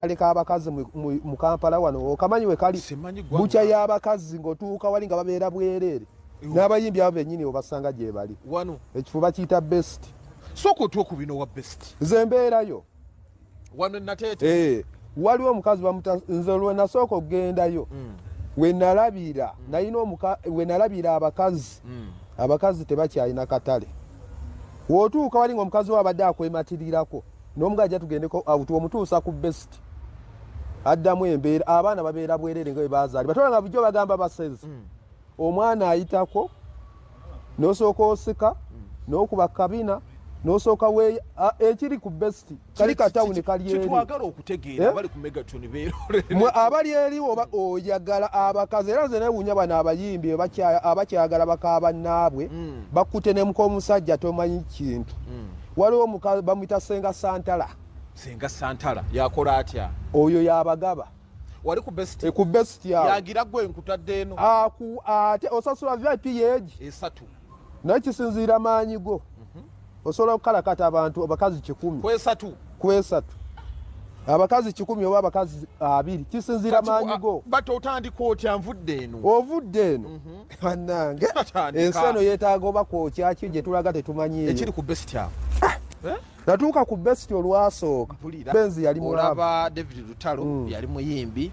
kale kabakazi mu kampala wano okamanyi wekali bukya yabakazi ngaotuuka wali nga babeera bwereere n'abayimbi abo benyini obasanga gyebali wano ekifuba kiyita best soka otuwa ku bino wa best nze mbeerayo wano nateete eh, waliwo omukazi bamuta nze lwenasooka okugendayo mm. wenalabira mm. nayina wenalabira abakazi mm. abakazi tebakyalina katale wotuuka wali nga omukazi wo abadde akwematirirako nomuga ajja tugendeko awuti omutuusa ku best addamu embeera abaana babeera bwerere nga bebazaali batola nga bujjo bagamba basezi mm. omwana ayitako nosooka osika mm. nokuba kabina nosooka we ekiri ku best kali katawuni kalyerikyetwagala okutegeera eh? abali ku megatoni beeroremwe abali eri oba oyagala abakazi era nze newunya bano abayimbi abakyagala bakabannaabwe mm. bakkute nemuka omusajja tomanyi kintu mm. waliwo muka bamwita senga santala senga santala yakola atya oyo yabagaba wali ku best e ku best ya yagira gwe nkutadde eno a ku ate osasula vip yeji esatu naye kisinziira maanyi go mm -hmm. osobola okukalakata abantu abakazi kikumi kwesatu kwesatu abakazi kikumi oba abakazi abiri kisinziira maanyi go but otandika otya nvudde eno ovudde eno mm -hmm. banange ensi eno yetaaga oba kwokyaki gyetulaga tetumanyi ekiri ku best awo ah! eh? natuuka ku best olwasooka benzi yali mulaba david lutalo mm. yali muyimbi